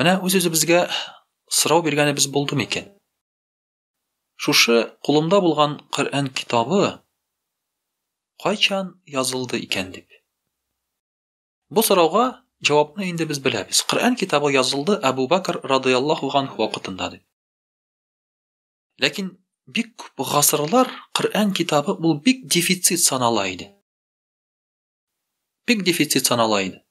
Менә үз-үзебезгә сорау биргәнебез булды микән? Шушы кулымда булган Коръән китабы кайчан язылды икән дип. Бу сорауга җавапны инде без беләбез. Коръән китабы язылды Әбу Бәкр радыяллаһу анһу вакытында дип. Ләкин бик күп гасырлар Коръән китабы ул бик дефицит санала иде. бик дефицит санала иде.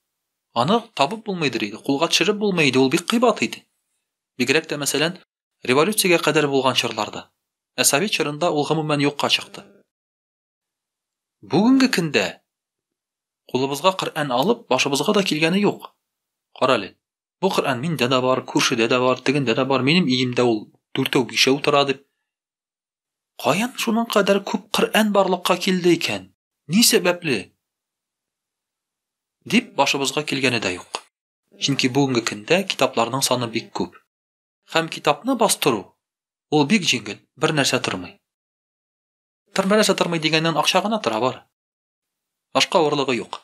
Аны табып булмыйдыр иде, кулга төшереп булмый иде, ул бик кыйбат иде. Бигрәк тә, мәсәлән, революциягә кадәр булган чорларда. Ә совет чорында ул гомумән юкка чыкты. Бүгенге көндә кулыбызга Коръән алып, башыбызга да килгәне юк. Карале. Бу Коръән миндә дә бар, күршедә дә бар, тегендә дә бар, минем иемдә ул дүртәү-бишәү тора дип. Каян шуның кадәр күп Коръән барлыкка килде икән? Ни сәбәпле? дип башыбызга килгәне дә юк. Чөнки бүгенге көндә китапларның саны бик күп. Һәм китапны бастыру, ул бик җиңел, бернәрсә тормый. Бернәрсә тормый дигәннән акча гына тора, бар. Башка авырлыгы юк.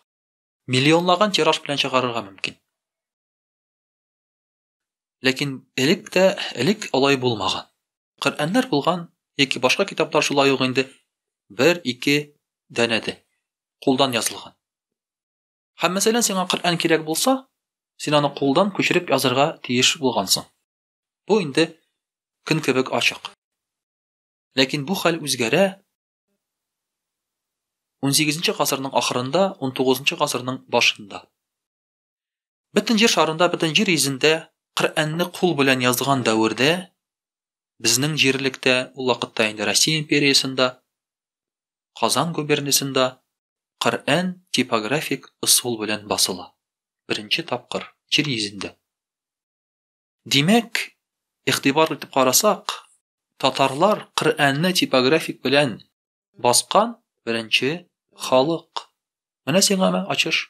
Миллионлаган тираж белән чыгарырга мөмкин. Ләкин элек тә, элек алай булмаган. Коръәннәр булган, яки башка китаплар шулай ук инде бер-ике дәнәде, кулдан язылган. Һәм мәсәлән, сиңа Коръән кирәк булса, син аны кулдан күчереп язырга тиеш булгансың. Бу инде көн кебек ачык. Ләкин бу хәл үзгәрә. 18 нче гасырның ахырында, 19 нчы гасырның башында. Бөтен җир шарында, бөтен җир йөзендә Коръәнне кул белән язган дәвердә безнең җирлектә, ул вакытта инде Россия империясендә, Казан губерниясендә Коръән типографик ысул белән басыла. Беренче тапкыр җир йөзендә. Димәк, игътибар итеп карасак, татарлар Коръәнне типографик белән баскан беренче халык. Менә сиңа ачыш.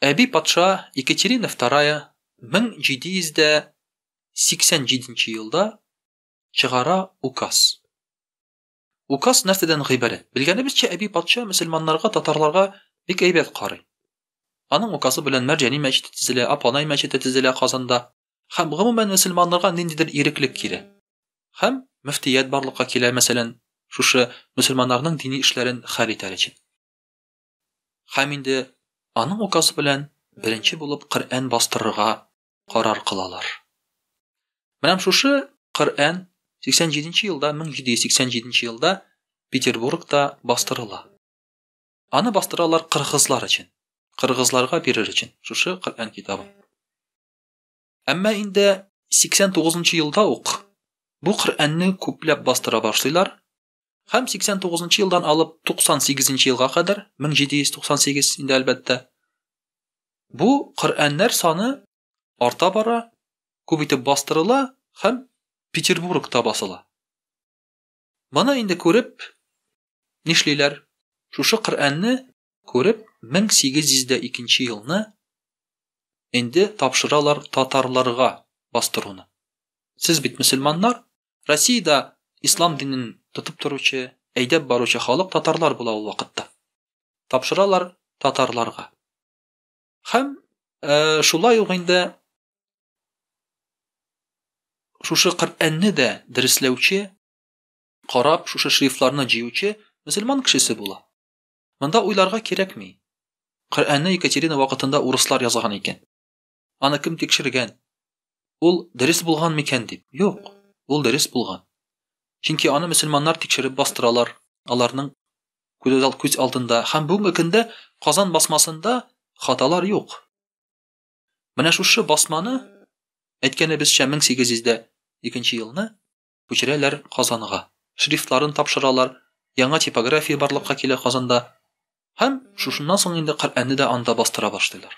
Әби патша Екатерина II 1787 елда чыгара указ. Указ нәрсәдән гыйбарәт? Белгәнебезчә, әби патша мөселманнарга, татарларга бик әйбәт карый. Аның указы белән Мәрҗани мәчете төзелә, Апанай мәчете төзелә Казанда. Һәм гомумән мөселманнарга ниндидер иреклек килә. Һәм мөфтият барлыкка килә, мәсәлән, шушы мөселманнарның дини эшләрен хәл итәр өчен. Һәм инде аның указы белән беренче булып Коръән бастырырга карар кылалар. Менә шушы Коръән 87 нче елда 1787 нче елда Петербургта бастырыла. Аны бастыралар кыргызлар өчен. Кыргызларга бирер өчен шушы Коръән китабын. Әмма инде 89 нчы елда ук бу Коръәнне күпләп бастыра башлыйлар Һәм 89 нчы елдан алып 98 нчы елга кадәр, 1798 инде әлбәттә, бу Коръәннәр саны арта бара, күп итеп бастырыла һәм Петербургта басыла. Моны инде күреп, нишлиләр? Шушы Коръәнне күреп, 1802 елны инде тапшыралар татарларга бастыруны. Сез бит мөселманнар, Россиядә ислам динен тотып торучы, әйдәп баручы халык татарлар була ул вакытта. Тапшыралар татарларга. Һәм э, шулай ук инде шушы Коръәнне дә дәресләүче, карап, шушы шрифтларны җыючы мөселман кешесе була. Монда уйларга кирәкми. Коръәнне Екатерина вакытында урыслар язган икән. Аны кем тикшергән? Ул дөрес булган микән дип? Юк, ул дөрес булган. Чөнки аны мөселманнар тикшереп бастыралар. Аларның күз алдында һәм бүгенге көндә Казан басмасында хаталар юк. Менә шушы басманы әйткәнебезчә 1802 елны күчерәләр Казанга. Шрифтларын тапшыралар, яңа типография барлыкка килә Казанда. Һәм шушыннан соң инде Коръәнне дә анда бастыра башлыйлар.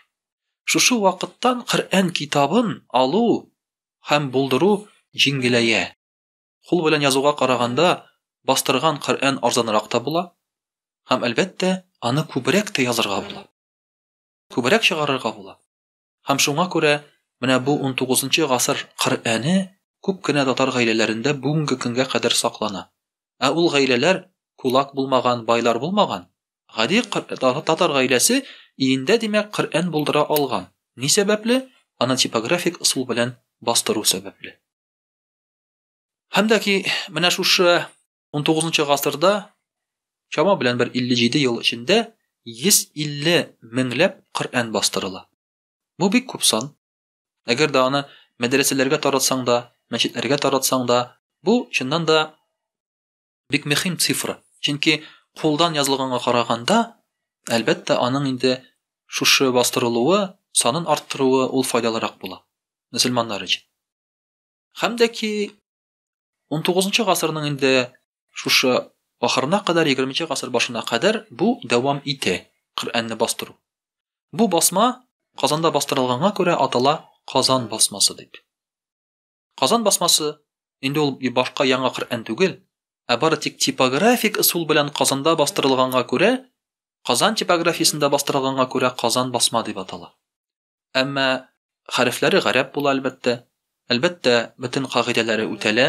Шушы вакыттан Коръән китабын алу һәм булдыру җиңеләя. Кул белән язуга караганда, бастырган Коръән арзанрак та була һәм, әлбәттә, аны күбрәк тә язырга була. Күбрәк чыгарырга була. Һәм шуңа күрә менә бу унтугызынчы гасыр Коръәне күп кенә татар гаиләләрендә бүгенге көнгә кадәр саклана. Ә ул гаиләләр кулак булмаган, байлар булмаган. Гади татар гаиләсе өендә, димәк, Коръән булдыра алган. Ни сәбәпле? Аны типографик ысул белән бастыру сәбәпле. Һәм дә ки менә шушы 19 гасырда чама белән бер 57 ел эчендә 150 меңләп Коръән бастырыла. Бу бик күп сан. Әгәр дә аны мәдрәсәләргә таратсаң да, мәчетләргә таратсаң да, бу чыннан да бик мөһим цифра. Чөнки кулдан язылганга караганда, әлбәттә, аның инде шушы бастырылуы, санын арттыруы ул файдалырак була мөселманнар өчен. Һәм дә ки 19 гасырның инде шушы ахырына кадәр 20 гасыр башына кадәр бу дәвам итә коръәнне бастыру бу басма казанда бастырылганга күрә атала казан басмасы дип казан басмасы инде ул башка яңа коръән түгел ә бары тик типографик ысул белән казанда бастырылганга күрә казан типографиясендә бастырылганга күрә казан басма дип атала Әмма хәрефләре гарәп була, әлбәттә. Әлбәттә, бөтен кагыйдәләре үтәлә.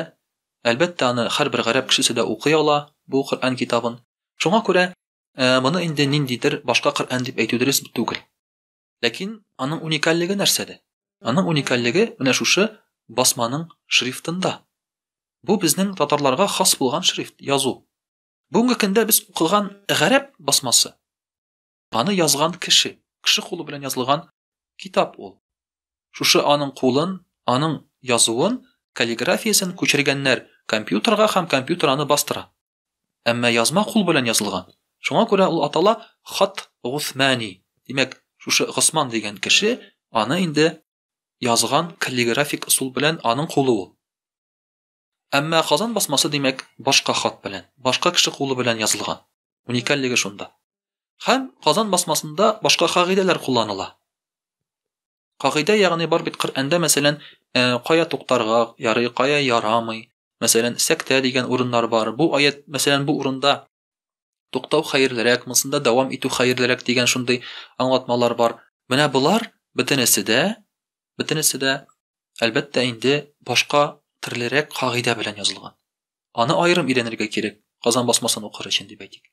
Әлбәттә, аны һәрбер гарәп кешесе дә укый ала, бу Коръән китабын. Шуңа күрә моны инде ниндидер башка Коръән дип әйтү дөрес түгел. Ләкин аның уникальлеге нәрсәдә? Аның уникальлеге менә шушы басманың шрифтында. Бу безнең татарларга хас булган шрифт, язу. Бүгенге көндә без укыган гарәп басмасы Аны язган кеше, кеше кулы белән язылган китап ул. Шушы аның кулын, аның язуын, каллиграфиясен күчергәннәр компьютерга һәм компьютер аны бастыра. Әмма язма кул белән язылган. Шуңа күрә ул атала Хат Гусмани. Димәк, шушы Госман дигән кеше аны инде язган каллиграфик ысул белән аның кулы ул. Әмма Казан басмасы, димәк, башка хат белән, башка кеше кулы белән язылган. Уникальлеге шунда. Һәм Казан басмасында башка кагыйдәләр кулланыла. Кагыйдә ягъни бар бит Коръәндә, мәсәлән, э, кая туктарга ярый, кая ярамый. Мәсәлән, сәктә дигән урыннар бар. Бу аят, мәсәлән, бу урында Туктау хәерлерәк, монсында дәвам итү хәерлерәк дигән шундый аңлатмалар бар. Менә болар бөтенесе дә, бөтенесе дә әлбәттә инде башка төрлерәк кагыйдә белән язылган. Аны аерым өйрәнергә кирәк, Казан басмасын укыр өчен дип әйтик.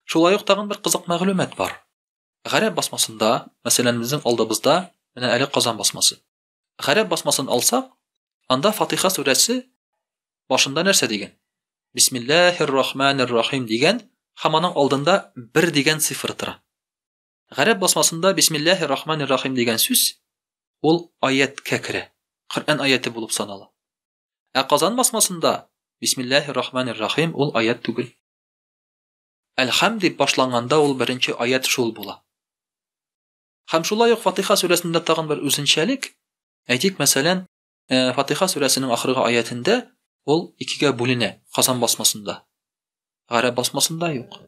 Шулай ук тагын бер кызык мәгълүмат бар. Гарәп басмасында, мәсәлән, безнең алдыбызда менә әле Казан басмасы. Гарәп басмасын алсак, анда Фатиха сүрәсе башында нәрсә дигән? Бисмиллахир рахманир рахим дигән һәм аның алдында бер дигән цифр тора. Гарәп басмасында Бисмиллахир рахманир рахим дигән сүз ул аяткә керә. Коръән аяты булып санала. Ә Казан басмасында Бисмиллахир рахманир рахим ул аят түгел. Әлхәм дип башланганда ул беренче аят шул була. Һәм шулай ук Фатыйха сүрәсендә тагын бер үзенчәлек, әйтик, мәсәлән, Фатыйха сүрәсенең ахыргы аятендә ул икегә бүленә, Казан басмасында. Гарәп басмасында юк.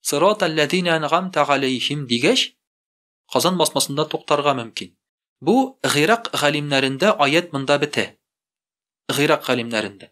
Сырата ләдина әнгамта галәйһим дигәч, Казан басмасында туктарга мөмкин. Бу Гыйрак галимнәрендә аять монда бетә. Гыйрак галимнәрендә.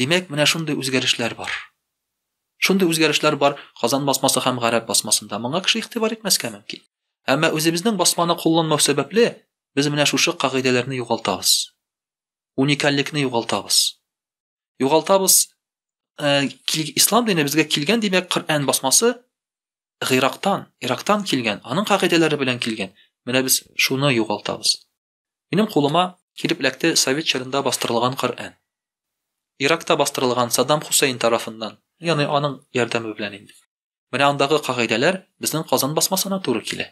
Димәк, менә шундый үзгәрешләр бар. Шундый үзгәрешләр бар Казан басмасы һәм Гарәп басмасында. Моңа кеше игътибар итмәскә мөмкин. Әмма үзебезнең басманы кулланмау сәбәпле, без менә шушы кагыйдәләрне югалтабыз. Уникальлекне югалтабыз. Югалтабыз э, ислам дине безгә килгән, димәк, Коръән басмасы Гыйрактан, Ирактан килгән, аның кагыйдәләре белән килгән. Менә без шуны югалтабыз. Минем кулыма килеп эләкте совет чорында бастырылган Коръән. Иракта бастырылган Саддам Хусейн тарафыннан, яны аның ярдәме белән инде. Менә андагы кагыйдәләр безнең Казан басмасына туры килә.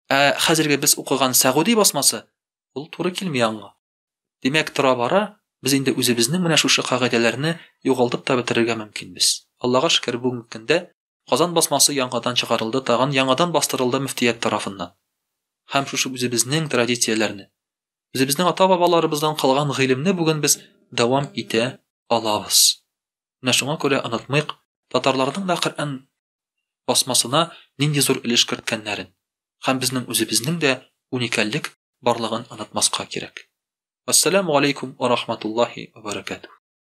Ә хәзерге без укыган Сәгуди басмасы ул туры килми аңа. Димәк, тора-бара без инде үзебезнең менә шушы кагыйдәләрне югалтып та бетерергә мөмкинбез. Аллага шөкер, бүгенге көндә Казан басмасы яңадан чыгарылды, тагын яңадан бастырылды мөфтият тарафыннан. Һәм шушы үзебезнең традицияләрне, үзебезнең ата-бабаларыбыздан калган гыйлемне бүген без дәвам итә алабыз. Менә шуңа күрә онытмыйк, татарларның да Коръән басмасына нинди зур өлеш керткәннәрен. Һәм безнең үзебезнең дә уникальлек барлыгын онытмаска кирәк. Вәссәламу галәйкүм вә рахматуллаһи вә бәрәкәтүһ.